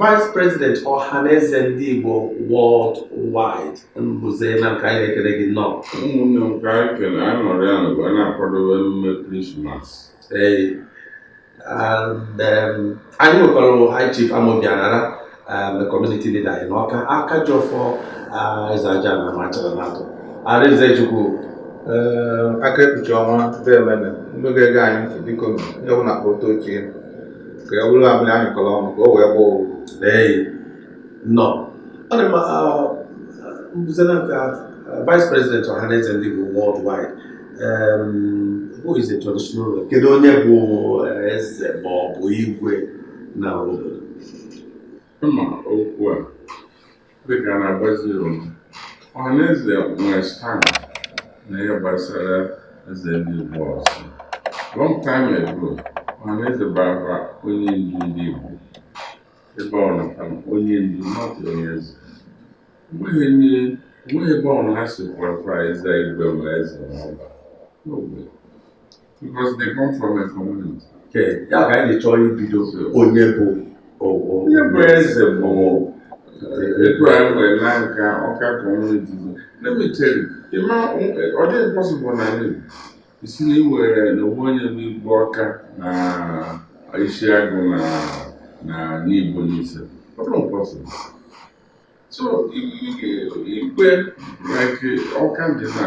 Vice President Ọhaneze ndị Igbo World Wide Mbuze Nanka anyị na-ekele gị nnọọ. Ụmụnne m ka anyị kele anyị nọrọ ya n'ụwa na-akwadobe emume Krismas. Ee, and, um, anyị nwekwara High Chief Amobi Anara um, community leader anyị n'Ọka aka ji ọfọ uh, eze aja na machara na atọ Arinze Chukwu Ee, aka ekpuchi ọnwa deeme nụ ndị ga-ege anyị ntị biko onye ọbụla kpọta oche ka ọ bụrụ amịrị a nyụkọrọ ọnụ ka o wee gbaa ụfụfụ ee nọ ọ dị mma Mbuze Nanka vice president ọhaneze ndị Igbo worldwide who is a traditional ruler kedu onye bụ eh, eze ma ọ bụ igwe na obodo ịma okwu a Dịka a na-agbazi Igbo, ọhaneze nwere stand na ihe gbasara eze ndị Igbo ọzọ. Long time ago, ọhaneze bara onye ndu ndị Igbo ebe ọ na onye ndu not onye eze. Enweghị onye enweghị ebe ọ na ha si kwara eze igwe ma eze na Ọba. No way. Because they come from a community. Okay, ya ka anyị chọrọ ibido onye bụ onye bụ eze bụ etu anyị nwee Nanka, Ọka community let me tell you ịma ọ dịghị possible na ị sị na e nwere na o nwe onye bụ igwe Ọka na Isiagụ na na Nibo, Nise ọ dịghị possible so igwe like ọka dị na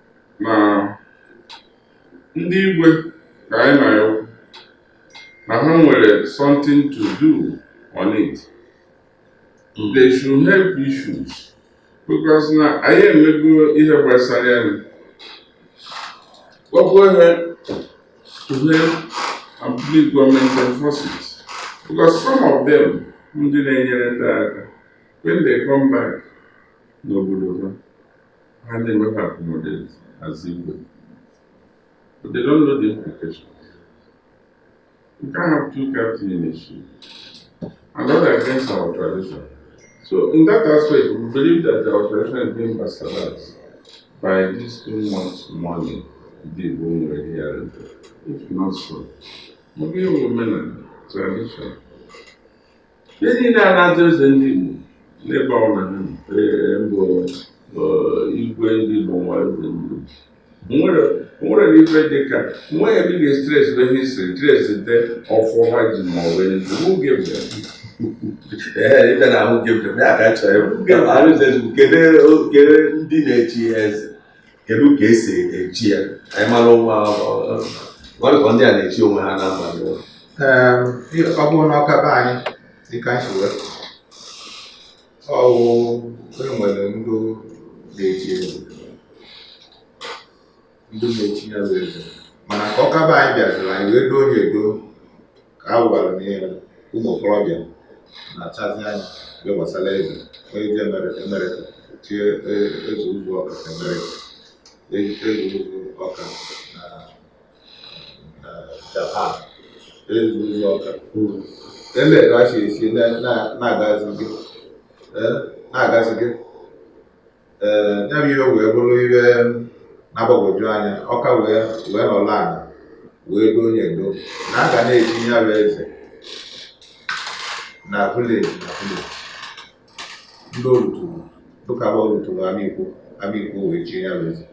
na ndị igwe ka anyị na-ayọkwu na ha nwere something to do on it they should help issues because na anyị emego ihe gbasara ya na go ahead to help and plead government enforce it because some of them ndị na-enyere ndị aka when they come back n'obodo ha ha na-enweghị accommodate as Igbo but they don't know the implications you can't have two captain in a ship and not against our tradition so in that aspect we believe that our tradition is being bastardized by this too much money ndị Igbo nwere here and there if not so ọ bụ ihe omenala tradition ndị niile a na-aza eze ndị Igbo n'ebe ọ na ha ee, mbụ ee, igwe ndị Igbo nwa eze ndị Igbo nwere nwere na ife dị ka nwa ya bi ga-etrace be ha history trace the ọfọ ha ji ma ọ bụ who gave them, ife na who gave them ya ka chọrọ ịjụ. Arinze kedu kedu ndị na-echi eze. kedu ka esi echi ya anyị mara ụwa ọrịkọ ndị a na-echi onwe ha n'abalị ọ bụrụ na Ọka be anyị dịka anyị si wee ọwụ enwere ndị na-echi eze ndị na-echi ya bụ eze mana ka Ọka be anyị bịaziri anyị wee doo onye edo ka ha gwara m ihe ụmụ okorobịa na-achazi anya ihe gbasara eze onye ji Amerịka chie e- eze ụzụ Ọka Amerịka E- eze ụzụ Ọka na na japan eze ụzụ Ọka ele ka a si esi na- na- na-agazi gị Eh, na-agazi gị ee ya bụ ihe wee bụrụ ihe na-agbagwoju anya ọka wee wee nọrọ ala wee doo onye edo na a ga na-echi ya bụ eze na vileji na vileji ndị o luturu dịka bụ o luturu amikwo amikwo wee chi ya bụ eze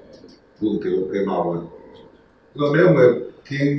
bụ nke oke ma ọbụla so na enwe king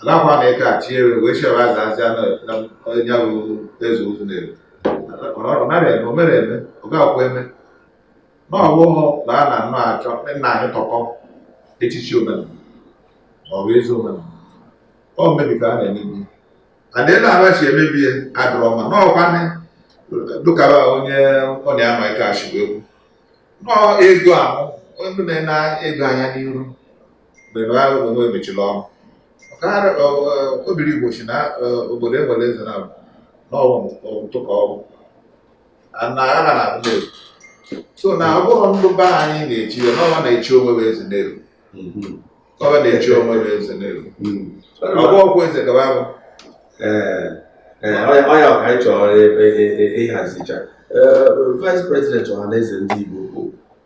alakwa na ịka achị ewe wee chebe aza aza na onye bụ eze ụzụ na-eru ọ nara eme o mere eme ọ ga-akwa eme na ọ bụghị na a na-anụ achọ nna anyị tọkọ echichi omenala ma ọ bụ ezi omenala ọ mmebi ka a na-emebi adị na-ara si emebi ya adịrọ mma na ọkwa dịka onye ọ na-ama ike achịwa egwu nọọ ego ahụ ndị na-ene ego anya n'iru mgbe na agha onwe emechila ọnụ ọkara obiri igbo si na obodo enwere eze na n'ọtụ ka ọgwụ na agha na abụ na-eru so na ọ bụrụ ndụ be anyị na-echi ya n'ọwa na-echi onwe bụ eze na-eru ọwa na-echi onwe bụ eze na-eru ọgwụ ọgwụ eze gaba bụ ọ ya ka anyị chọrọ ịhazicha vice president ọhaneze ndị igbo bụ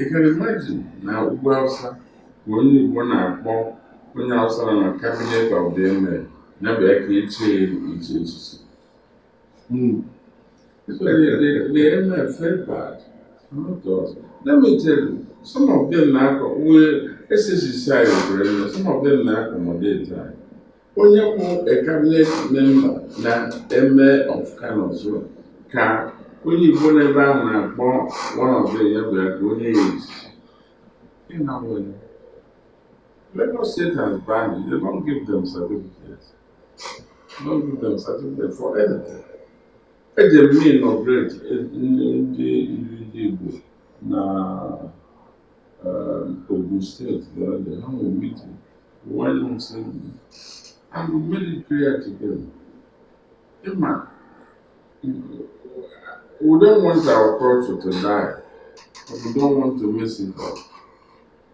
Ị can imagine na ugwu Hausa ka onye Igbo na-akpọ onye Hausa nọ na cabinet of the Emir ya bịa ka e chie echichi. The the Emir felt bad. Not us. Let me tell you, some of them na-akọ wee assist anyị were some of them na-accommodate anyị. Onye bụ a cabinet member na Emir of Kano so ka onye Igbo n'ebe ahụ na-akpọ one of them ya bịa ka o nye ya eze. Ị na-ahụ ya. Lagos State has banned it. They don't give them certificates. They don't give them certificates for anything. Eje m inaugurate ndị ndị ndị Igbo na uh, Ogun State the other day. Ha nwere meeting. Iwuanyanwu sent me. And we made it clear to them. Ị ma, we don't want our culture to die. But we don't want to mess it up.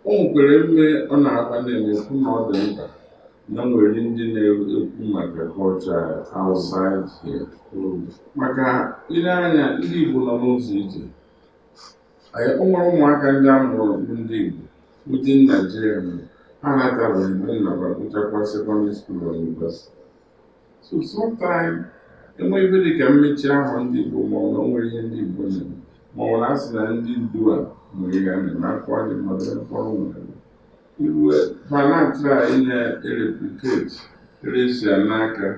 O nwekwara mme ọ na-akpa na-ekwu na ọ dị mkpa na e nwere ndị na-ekwu maka culture outside here. Maka ile anya ndị Igbo nọ n'ụzọ ije Anyị o nwere ụmụaka ndị a mụrụ bụ ndị Igbo within Naijiria mere ha anatabeghị mgbe nna ba gụchakwa sekọndịrị skuul na yunivesiti so sometime enwee ife dị ka mmechi ahụ ndị Igbo ma ọ na o nwere ihe ndị Igbo na-eme ma ọ na a sị na ndị ndu a nwere ihe a na-eme akwa dị mmadụ ya mkpọrọ nwere iwe fa na-atry inye erepliketi resia n'aka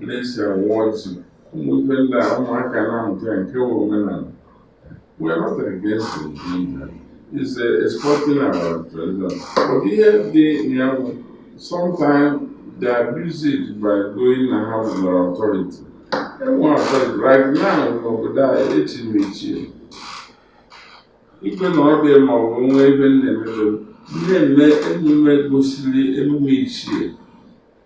resia wọzi ụmụ ife ndị a ụmụaka na-amụta ya nke wụ omenala We are not against it. It's exporting our tradition. But here they, they have, sometimes they abuse it by going and having their authority. And one authority, right now, n'obodo a, echi na echi. Ikpe na ọ dị ma ọ bụ nwa ebe m na-emebe m, na-eme emume gosiri emume ichie.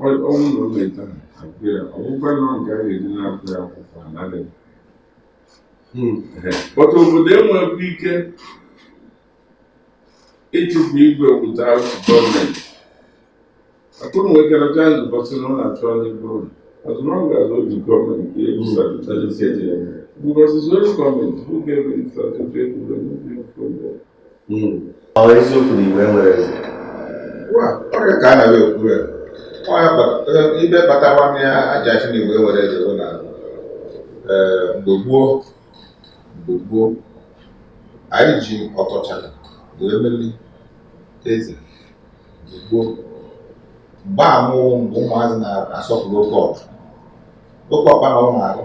ọ wụ na o meta akwụ ya ọgwụkwa na nke a ga-eji napụ ya akwụkwọ anadị but obodo enwekwa ike ịchụpụ igwe without gọọmenti atụrụ nwekara chance bọsị na ọ na-achọ ndị bụrụ as long as o ji gọọmenti gave certificate because it's only gọọmenti who gave certificate Ọ eziokwu na Igbo enwerọ eze. Ọrịa ka a na-abịa okwu ya. Ife kpata nwanne ya e ji asị na Igbo enwerọ eze bụ na mgbe gboo mgbe gboo anyị ji ọtọchara wee meli eze mgbe gboo mgbe amụwụ mgbe ụmụazị na-asọpụrụ oke ọkpa oke ọkpa na ụmụ arụ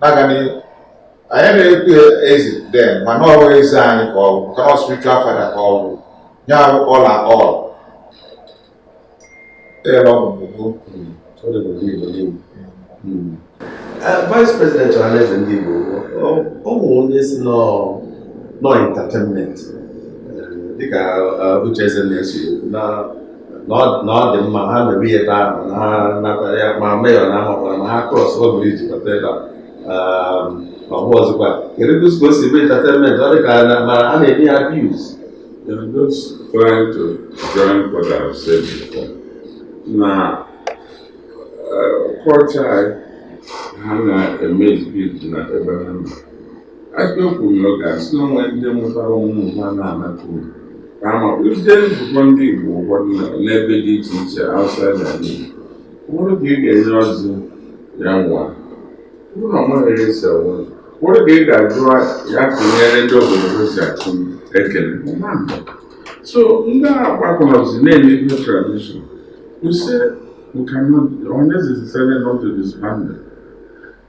na-aga n'ihu anyị na-ekwu eze den mana ọ bụghị eze anyị ka ọ bụ maka na spiritual father ka ọ bụ nye abụ ọla ọl ebe ọ bụ vice president ọhaneze ndị Igbo ọ bụ onye si nọ entertainment dịka uche eze na-esi na na ọ dị mma ha mebe ihe ebe ahụ na ha nata ya ma meyọ na amakwara na ha cross bridge bata ebe a ma ọ bụ ọzọkwa kedu ka o si ebe entertainment ọ dị ka a na-eme ya abuse They're just trying to join what I've said before. Na culture, ha na-eme exhibit na ebe ha nọ Ebe kwuru oge a sị na o nwe ndị mụtara ụmụ ha na-anata uru ka ama ije nzukọ ndị Igbo ụfọdụ na- n'ebe dị iche iche outside ala Igbo ụfọdụ ka ị ga-enye ọjị ya waa ụlọ nweghị esi awa ụfọdụ ka ị ga-ajụ ya kụnyere ndị obodo ha si achụ ekele ọma mba. so ndị a gbakọrọzi na-emebi tradition kwụsị nka Ọhaneze decided not to disband them.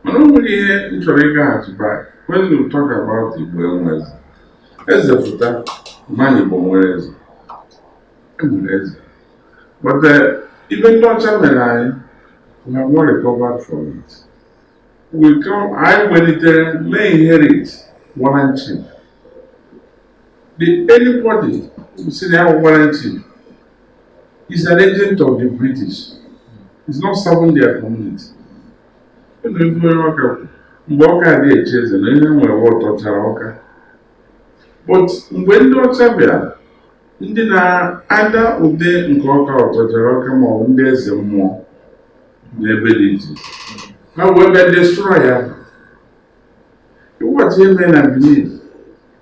mana o nwere ihe m chọrọ ịgaghachi back when you talk about Igbo enwe eze eze pụta mmadụ Igbo nwere eze enwere eze but uh, ife ndị ọcha mere anyị we have not recovered from it we come anyị welitere may inherit warrant chief the anybody who say they have warrant chief is an agent of the British is not serving their community Ebe be anyị Ọka mgbe Ọka adị echi eze na e nwere Ọtọchara Ọka but mgbe ndị ọcha bịara ndị na-ada ụda nke Ọka Ọtọchara Ọka ma ọ bụ ndị eze mmụọ n'ebe dị iche ha wee bịa destroy ya ịwụghachi ihe mere na Benin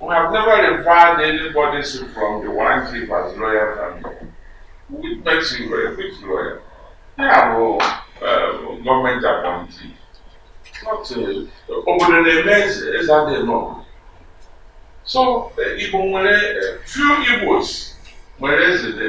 We have never referred anybody from the warrant chief as royal family. Which makes him royal? Which royal? They are all uh, government appointee. Not obodo na-eme eze eze dịkwanụ. So Igbo nwere few Igbos nwere eze dị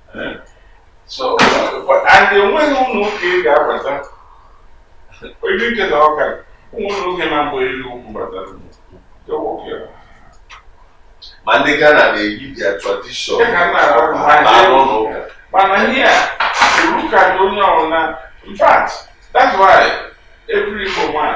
so and enweghị ụlọ ụka ị ga-abata ebe ike na ọka ụmụnna nwoke na mgbe elu ugwu batara ma ndị Ghana na-eyi their tradition mana ihe a iwu ka onye ọbụla in fact that's why every Igbo man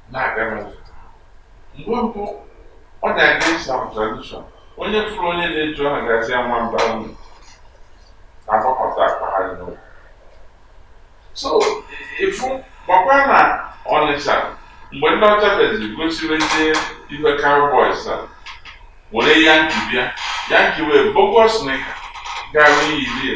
na-aga n'ụzọ mgbe mbụ ọ bụ against our tradition onye fụrụ onye na-eji ọha gazi ama mba unu agbakọta akpa ha dị n'ụlọ so ịfụ gbakwa na Ọnịcha mgbe ndị ọcha bịazi gosiri ndị ife cowboys a were Yankee bịa Yankee wee bogus knicker gara yirie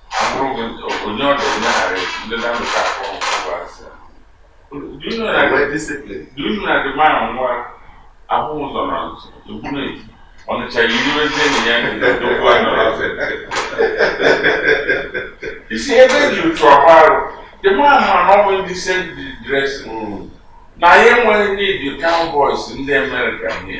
ọnịcha yiwezie na ya na-edokwu anya n'afọ isi ebe e ji otu ọgba arụ dị mma mana ọ bụ decent dressing ya enweghị ndị cowboys ndị Amerịka nye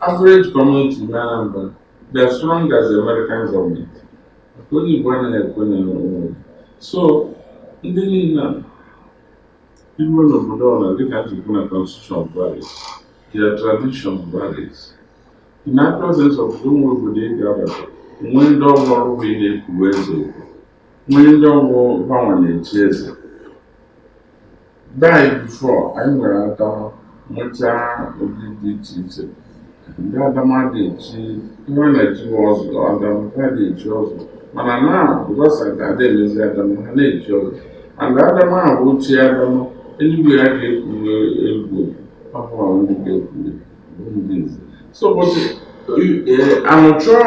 Average community in Anambra, they are strong as the American government. Onye Igbo anaghị ekwe na onwe. So, ndị niile a i ruo n'obodo ọbụla dịka njikwu na constitution varies, their tradition varies. In the presence of o nwere obodo ị ga-abata, nwee ndị ọ bụ ọrụ bụ ị na-ekwuwe eze okwu, nwee ndị ọ bụ ha nwa na-echi eze. Daị before anyị nwere adama mụchaa ụdị dị iche iche ndị adama dị echi ihe a na-echi ọzọ adama ha dị echi ọzọ mana na ụbọchị ka ada emezi adama ha na-echi ọzọ and adama ahụ ochie adama eluigwe ya ga-ekwuwe egwu ọhụrụ ndị ga-ekwuwe bụ ndị nze so ụbọchị anụchọọ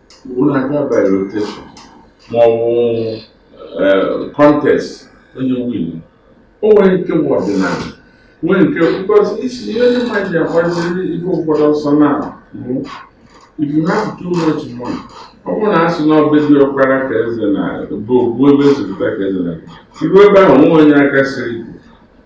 Unu aga by rotation ma ọ bụ eh, contest onye win o nwere nke bụ ọdịnala nwee nke because isi ihe ndị mmadụ ji agbaziri ife ụfọdụ ọsọ na-abụ if you have too much money ọ bụrụ na a sị na ọ be diọkpara ka eze na-abụ ogbu ebe ezipụta ka eze na iru ebe ahụ nwee onye aka siri ike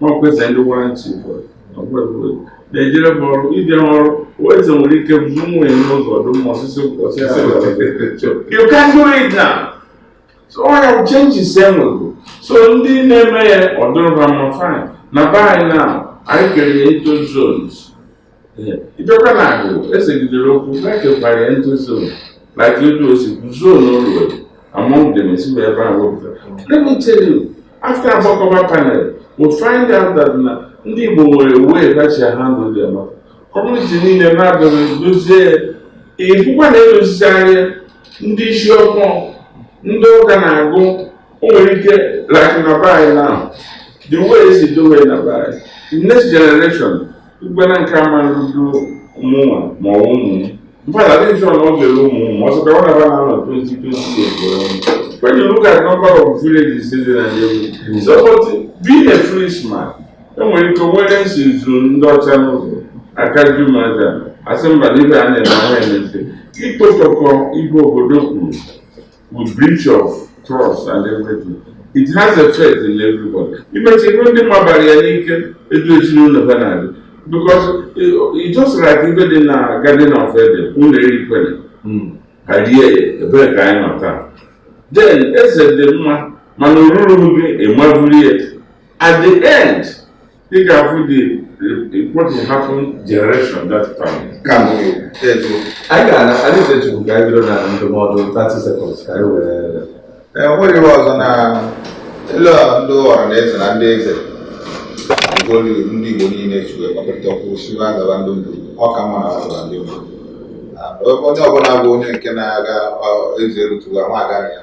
n'ọkwa eze ndị warrant chief ọgbọgbọgbọ na-ejere m ọrụ ije m ọrụ eze nwere ike bụrụ nwunye m n'ụzọ ọ dụ mma ọsịsọ ọsịsọ you can do it now so ọ ya changes enwego so ndị na-eme ya ọ dụrụ ba mma fine na be anyị na anyị kere ya into zones Ijoka na-agụ esegidere okwu e kekwara ya into zone na ka etu o si kwu zone o ruwere among them esi wee ebe ahụ wepụtara. Let me tell you, after Agbakoba panel, we find out that na ndị Igbo nwere way ha si handle their matter. Community niile na-abịaghị dozie ya. Ịbụkwa na edozisi anya ndị isi ọkpọ ndị ụka na-agụ o nwere ike like na be anyị now the way esi dowe na be anyị next generation Ugbana nke a mara rudo ụmụnwa ma ọ ụmụ m. In fact, adịghị m sure na ọ ga-eru ụmụ ọsọ ka ọ na-agba na anọ 2020 When you look at number of villages in the Nigeria, so but being a free man, enwere ike nwere nsi zuru ndị ọcha n'ụzọ aka ju m aja asị mba n'ibe a na-eme ahụ emete ikpotọkọ ibe obodo kwuru with breach of trust and everything it has effect in everybody imechi ihu ndị mabara ya n'ike etu ezinụlọ ha na-adị because it just like ife dị na Garden of Eden unu erikwene ha rie ya ebee ka anyị nọ taa then eze dị mma mana o ruru gị ị maburu ya at the end ị ga-afụ think of what will happen generation that time ka anyị ga-ana anyị ga-echukwu ka anyị bido na ndụmọdụ 30 seconds ka anyị were enweghị iwe ọzọ na elu ndị ọra na eze na ndị eze ndị Igbo niile chukwu ekpakọrịta okwu si na agaba ndị mbụ ọ ka mma na agaba ndị mbụ onye ọbụla bụ onye nke na-aga eze erutụga nwa aga ya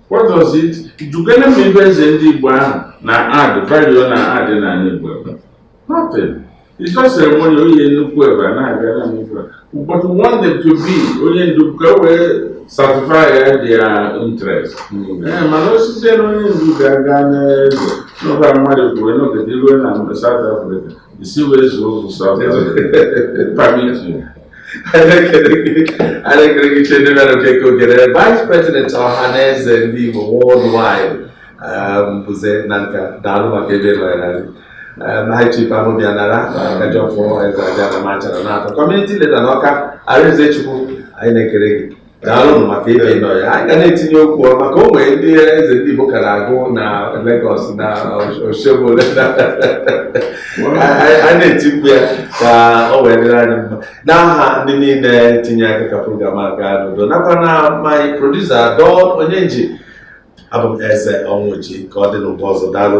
What does it? Gwakene m ife eze ndị Igbo ahụ na-add value na-add n'anị Igbo ebe. Nothing. It's just ceremony onye nnukwu ebe a na-abịa na nnukwu ebe. But we want them to be onye ndu ka e wee satisfy their interest. Ee, mana osisi na onye ndu ga-aga n'eze n'ụba mmadụ bụ onye nọgide ruo na South Africa. Isi wee zuo ụzọ South Africa. Permit you. Ichie Damian Okeke Ogene Vice President Ọhaneze ndị Igbo worldwide Mbuze Nanka daalụ maka ịbịa nọnyere anyị um, High Chief Amobi Anara Akajiọfọ Eze Abịa na Amachara na atọ Community Leader n'Ọka Arinze Chukwu anyị na-ekele gị daalụnụ maka ịbịa ịnọ ya anyị ga na-etinye okwu maka o nwere ndị eze ndị Igbo ka na-agụ na Lagos na Osogbo anyị na-etikwu ya ka o wee dịrị anyị mma n'aha ndị niile tinye aka ka program a gaa n'udo nakwa na my producer Don Onyenji abụ m Eze Ọnwụji ka ọ dị n'ụbọ ọzọ daalụ